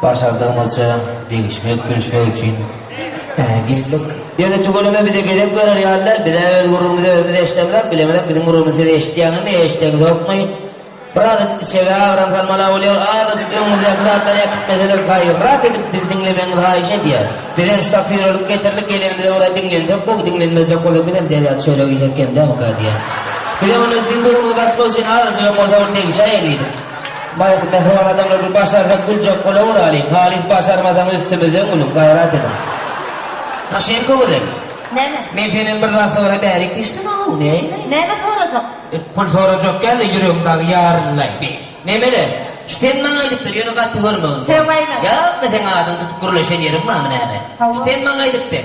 Başardygymyzça degişmek, gülüşmek üçin girdik. Ýöne tüweleme bize gezek berer ýaly däl. Biz-ä öz gürrüňimizi özümiz eşidemzok, bilemzok, biziň gürrüňimizi siz eşidýäňizmi, eşideňizokmy? Bir azajyk içege agram salmala bolýar, azajyk öňüňizdäki zatlary äkitmeseler gaýrat edip bizi diňlemegiňizi haýyş edýäris. Biz hem şu taksir alyp getirdik, gelenimize görä diňlensek gowy, diňlenmejek bolsa biz hem derýa çörek iýsek kemdämikä diýýän. Biz hem onda siziň gürrüňizi basmak üçin azajygam bolsa bir degişäýelidik. Baýky mähriban adamlar bir başarsak güljek bolaweralyň halys başarmasaňyz üstümizden gülüň gaýrat ediň. Maşenka gözel. Näme? Men senden bir zat sorap bärik seçdim ow näme? Näme sorajak? E, pul sorajak geldi ýüregim dagy ýaryllaý be. Nemele? Şu sen maňa aýdyp ber, ýöne gaty görmegin. Höwäýme. Ýa, seň adyňy tutup gürleşen ýerim barmy näme? Hawa. Sen maňa aýdyp ber.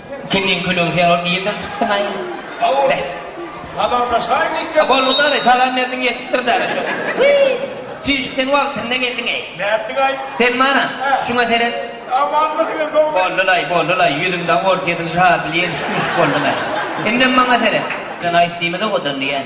Kimiň külügi sen ol nirden çykdyňaý. Howul. Salamlaşaýynyk ýa. Boldy dadaý salam berdiň ýetipdir dada şo. Çişik sen wagtynda geldiňeý. Nätdiňaý. Sen mana. Hä. Şuňa seret. Amanmy sen gowmy. Boldylaý boldylaý ýüzüm dagy orta ýedinji harply ýemişik müşik boldyňaý. Indem maňa seret. Sen aýt diýmez owadan diýýän.